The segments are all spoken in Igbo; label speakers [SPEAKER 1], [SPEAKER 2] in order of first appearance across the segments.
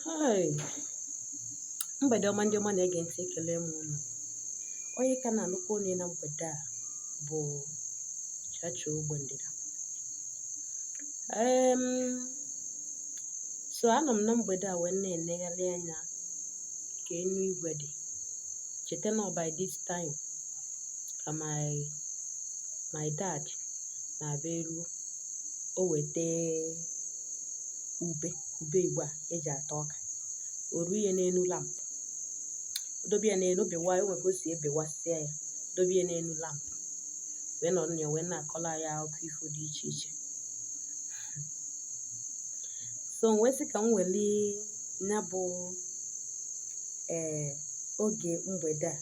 [SPEAKER 1] Hai! Mgbede ọma ndị ọma na-ege ntị ekele m unu. Onye ka na-anụkwu onu ya na mgbede a bụ Chacha Ogbe Ndịda. Em, so anọ m na mgbede a wee na-enegharị anya ka enu igwe dị. Cheta na by this time ka my my dad na-abịa eruo. o weta ube ube igbo a eji ata ọka o ruo ya n'enu lamp dobe ya n'enu o bewa e nwe ka o si ebewasịa ya dobe ya n'enu lamp wee nọrọ na ya wee na-akọlụ anyị akụkọ ifo dị iche iche so m wee sị ka m weli ya bụ ee oge mgbede a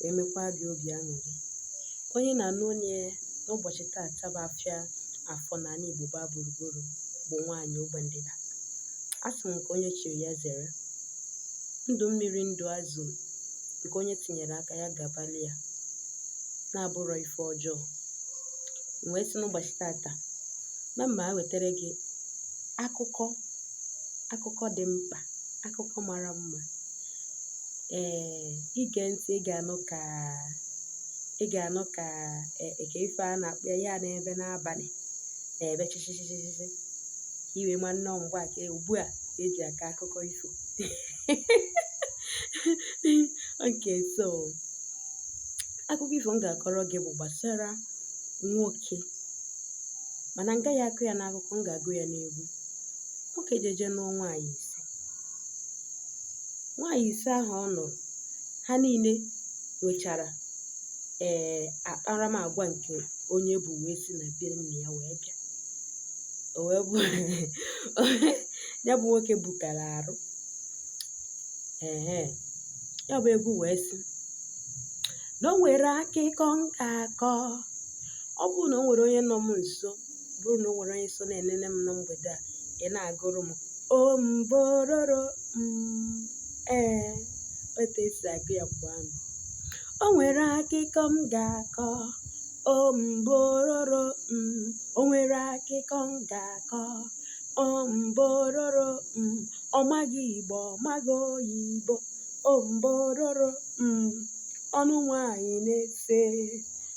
[SPEAKER 1] wee mekwaa gị obi aṅụrị. Onye na-anụ onu ya n'ụbọchị tata bụ afịa afọ n'anị Igbo gbaa gburugburu bụ nwaanyị ogbe ndịda. A sị m nke onye chiri ya zere. Ndụ mmiri ndụ azụ nke onye tinyere aka ya gabali ya na abụrọ ife ọjọọ. M wee sị n'ụbọchị tata na m ma-ewetara gị akụkọ akụkọ dị mkpa akụkọ mara mma ee i gee ntị ị ga-anụ ka ị ga-anụ ka kee ife a na-akpọ ya na-ebe n'abanị na-ebe chịchịchịchịchị i wee ma na ọ mgbe a ka ugbu a e ji akọ akụkọ ifo okay so akụkọ ifo m ga-akọrọ gị bụ gbasara nwoke mana m gaghị akọ ya n'akụkọ m ga-agụ ya n'egwu nwoke jeje nụọ nwaanyị ise Nwaanyị ise ahụ ọ nụrụ, ha niile nwechara ee eh, akparamagwa nke onye bu wee si na be nna ya wee bịa. O wee bụ ya bụ nwoke bukara arụ. Ehe. Ya bụ egwu wee sị na o nwere akụkọ m ga-akọ. Ọ bụrụ na o nwere onye nọ m nso bụrụ na o nwere onye so na-enene m na mgbede a ị na-agụrụ m o mbororo mm, ee otu e si agụ ya mgbe ahụ o nwere akụkọ m ga-akọ o mbororo mm, o nwere akụkọ m ga-akọ o mbororo mm, ọ maghị igbo ọ maghị oyibo o mbororo mm, ọ nụ nwanyị n'ise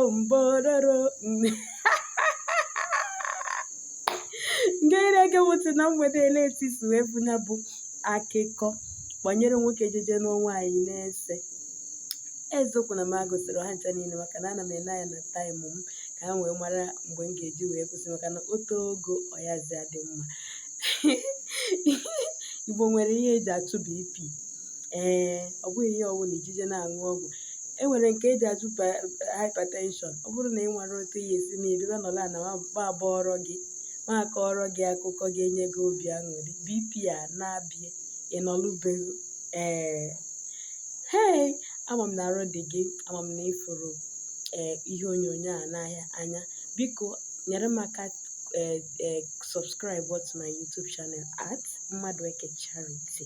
[SPEAKER 1] ombororo nke na-ege ntị na mgbede eleti si wee bụ ya bụ akụkọ banyere nwoke jeje nụọ nwaanyị na-ese eziokwu na m agụsịrị ha ncha niile maka na ana m ene anya na taịmụ m ka ha wee mara mgbe m ga-eji wee kwụsị maka na o too ogo ọ yazi adị mma igbo nwere ihe eji achụ bp ee ọ bụghị ihe ọbụna i jeje na-aṅụ ọgwụ e nwere nke eji achụ hypertension ọ bụrụ na ị nwere otu ihe esi na ebibe nọla na ma abọọrọ gị ma akọọrọ gị akụkọ ga-enye gị obi aṅụrị bp a na-abịa ị nọlụ be gị ee hei ama m na arụ dị gị ama m na ị fụrụ ee ihe onyonyo a n'anya biko nyere m aka ee subscribe to my youtube channel at mmadụeke charity